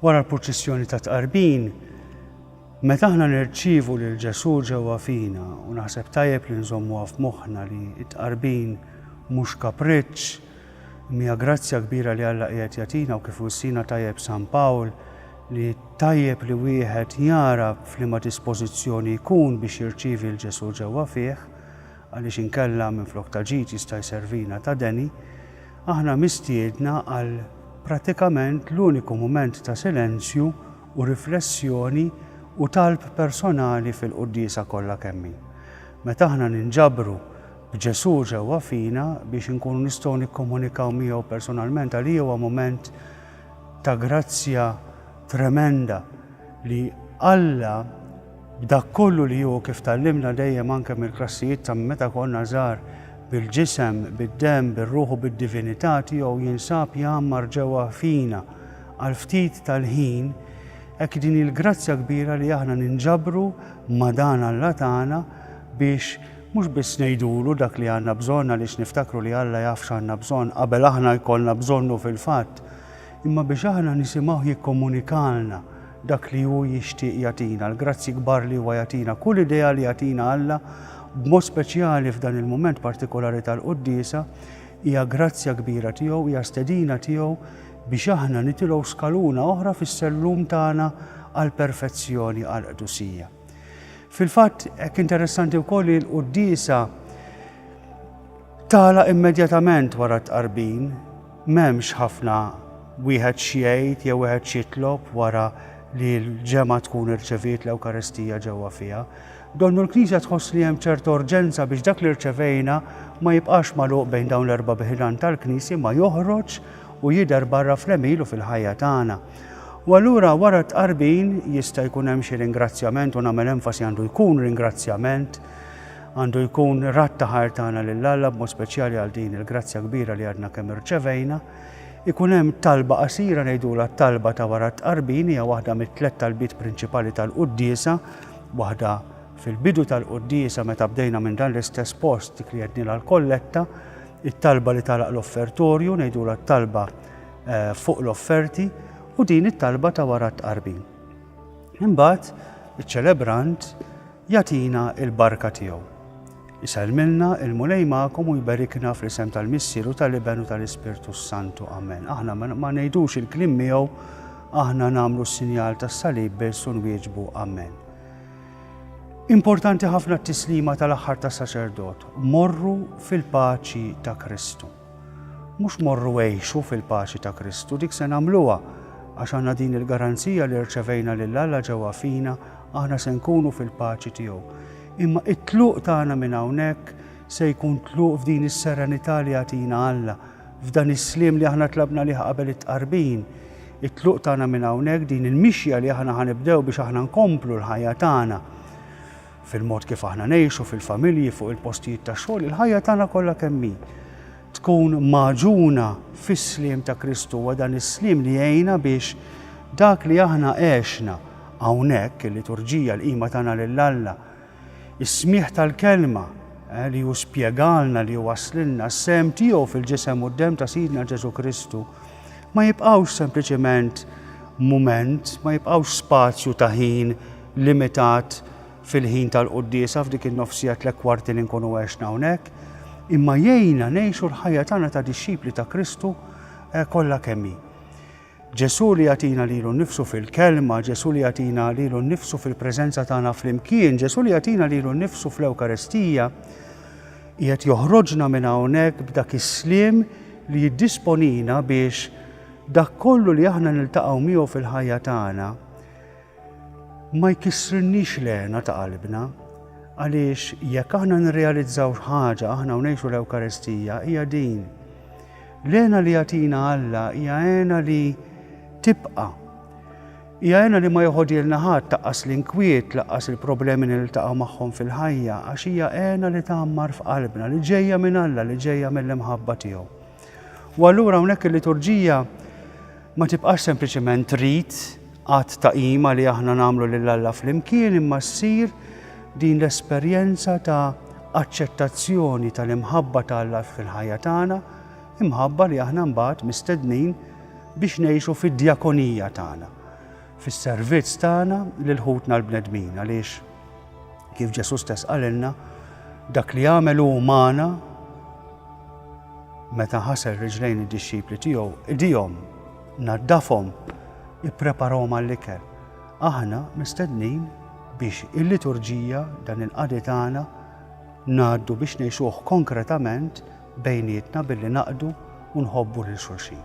Wara l-purċissjoni ta' tqarbin, Meta aħna nirċivu lil Ġesu ġewwa fina u naħseb tajjeb li nżommuha f'moħħna li t-tqarbin mhux kapriċċ, Hija grazzja kbira li Alla qiegħed jagħtina u kif wissina tajjeb San Pawl li tajjeb li wieħed jara f'liema dispożizzjoni jkun biex jirċievi 'l Ġesù ġewwa fih, għaliex inkella minflok ta' ġid jista' jservina ta' deni. Aħna mistiedna għal pratikament l-uniku mument ta' silenzju u riflessjoni u talb personali fil-Quddiesa kollha kemm hi. Meta aħna ninġabru b'Ġesù ġewwa fina biex inkunu nistgħu nikkomunikaw miegħu personalment, għalija huwa mument ta' grazzja tremenda li Alla b'dak kollu li hu kif tgħallimna dejjem anke mill-klassijiet ta' meta konna żgħar bil-ġisem, bid-demm, bir-ruħ u bid-divinità tiegħu jinsab jgħammar ġewwa fina għal ftit tal-ħin, hekk din hi l-grazzja kbira li aħna ninġabru ma' dan Alla tagħna biex Mhux biss ngħidulu dak li għandna bżonn għaliex niftakru li Alla jaf x'għandna bżonn qabel aħna jkollna bżonnu fil-fatt, imma biex aħna nisimgħuh jikkomunikalna dak li hu jixtieq jagħtina, l-grazzji kbar li huwa jagħtina. Kull idea li jagħtina Alla, b'mod speċjali f'dan il-mument partikolari tal-Quddiesa, hija grazzja kbira tiegħu, hija stedina tiegħu biex aħna nitilgħu skaluna oħra fis-sellum tagħna għall-perfezzjoni, għall-qdusija. Fil-fatt, hekk interessanti wkoll li l-quddiesa tala immedjatament wara t-tqarbin, m'hemmx ħafna wieħed x'jgħid jew wieħed x'jitlob wara li l-ġemgħa tkun irċeviet l-Ewkaristija ġewwa fiha. Donnu l-Knisja tħoss li hemm ċerta urġenza biex dak li rċevejna ma jibqax magħluq bejn dawn l-erba' biħidan tal-Knisja ma joħroġ u jidher barra fl-emil u fil-ħajja tagħna. U allura wara t-tqarbin jista' jkun hemm xi ringrazzjament u nagħmel enfasi għandu jkun ringrazzjament, għandu jkun rat ta' ħajr tagħna lil Alla b'mod speċjali għal din il-grazzja kbira li għadna kemm irċevejna. Ikun hemm talba qasira ngħidulha t-talba ta' wara t-tqarbin hija waħda mit-tliet talbiet prinċipali tal-quddiesa, waħda fil-bidu tal-quddiesa meta bdejna minn dan l-istess post dik li għednilha l-kolletta, it-talba li tagħlaq l-offertorju ngħidulha t-talba fuq l-offerti u din it-talba ta' wara t-tqarbin. Imbagħad iċ-ċelebrant jagħtina l-barka tiegħu. Isellmilna il-Mulej magħkom u jberikna fl-isem tal-Missier u tal-Iben u tal-Ispirtu Santu. Amen. Aħna ma ngħidux il-klim miegħu, aħna nagħmlu s-sinjal tas-salib biss u nwieġbu Amen. Importanti ħafna t-tislima tal-aħħar ta' saċerdot, morru fil-paċi ta' Kristu. Mhux morru għixu fil-paċi ta' Kristu, dik se nagħmluha għax għandna din il-garanzija li rċevejna lil Alla ġewwa fina, aħna se nkunu fil-paċi tiegħu. Imma it-tluq tagħna minn hawnhekk se jkun tluq f'din is-serenità li jagħtina Alla, f'dan is-sliem li aħna tlabna lih qabel it-tqarbin. It-tluq tagħna minn hawnhekk din il-mixja li aħna ħanibdew biex aħna nkomplu l-ħajja tagħna. fil-mod kif aħna ngħixu, fil-familji, fuq il-postijiet tax-xogħol, il-ħajja tagħna kollha kemm hi tkun magħġuna fis-sliem ta' Kristu huwa dan is-sliem li jgħinna biex dak li aħna għexna hawnhekk il-liturġija l-qima tagħna lil Alla. Is-smieħ tal-kelma eh, li hu spjegalna li waslilna s-sem tiegħu fil-ġisem u d-dem ta' Sidna Ġesu Kristu ma jibqgħux sempliċement mument, ma jibqgħux spazju ta' ħin limitat fil-ħin tal-quddiesa f'dik in-nofsija tlett kwarti li nkunu għexna hawnhekk, imma jgħinna ngħixu l-ħajja tagħna ta' dixxipli ta' Kristu eh, kollha kemm hi. Ġesu li jatina lilu nifsu fil-kelma, Ġesu li jatina lilu nifsu fil-prezenza tagħna fl-imkien, Ġesu li jatina lilu nifsu fl-Ewkaristija, jgħet joħroġna minn hawnhekk b'dak is-slim li jiddisponina biex dak kollu li aħna niltaqgħu miegħu fil-ħajja tagħna ma jkissrilniex l-hena ta' qalbna, għaliex jekk aħna nirrealizzaw x'ħaġa aħna u ngħixu l-Ewkaristija hija din. L-hena li jagħtina Alla hija hena li tibqa'. Hija hena li ma joħodilna ħadd taqqas l-inkwiet, laqqas il-problemi li niltaqgħu magħhom fil-ħajja, għax hija hena li tgħammar f'qalbna, li ġejja minn Alla, li ġejja mill-imħabba tiegħu. U allura hawnhekk il-liturġija ma tibqax sempliċement rit għad ta' qima li aħna nagħmlu lil Alla flimkien imma ssir din l-esperjenza ta' aċċettazzjoni tal-imħabba ta' Alla fil-ħajja tagħna, imħabba li aħna mbagħad mistednin biex ngħixu fid-djakonija tagħna. fis-servizz tagħna lil ħutna l-bnedmin għaliex kif Ġesù stess qalilna dak li għamel hu magħna meta ħasel riġlejn id-dixxipli tiegħu idihom naddafhom ippreparahom għall-ikel. Aħna mistednin biex il-liturġija dan il-qadi tagħna ngħaddu biex ngħixuh konkretament bejnietna billi naqdu u nħobbu lil xulxin.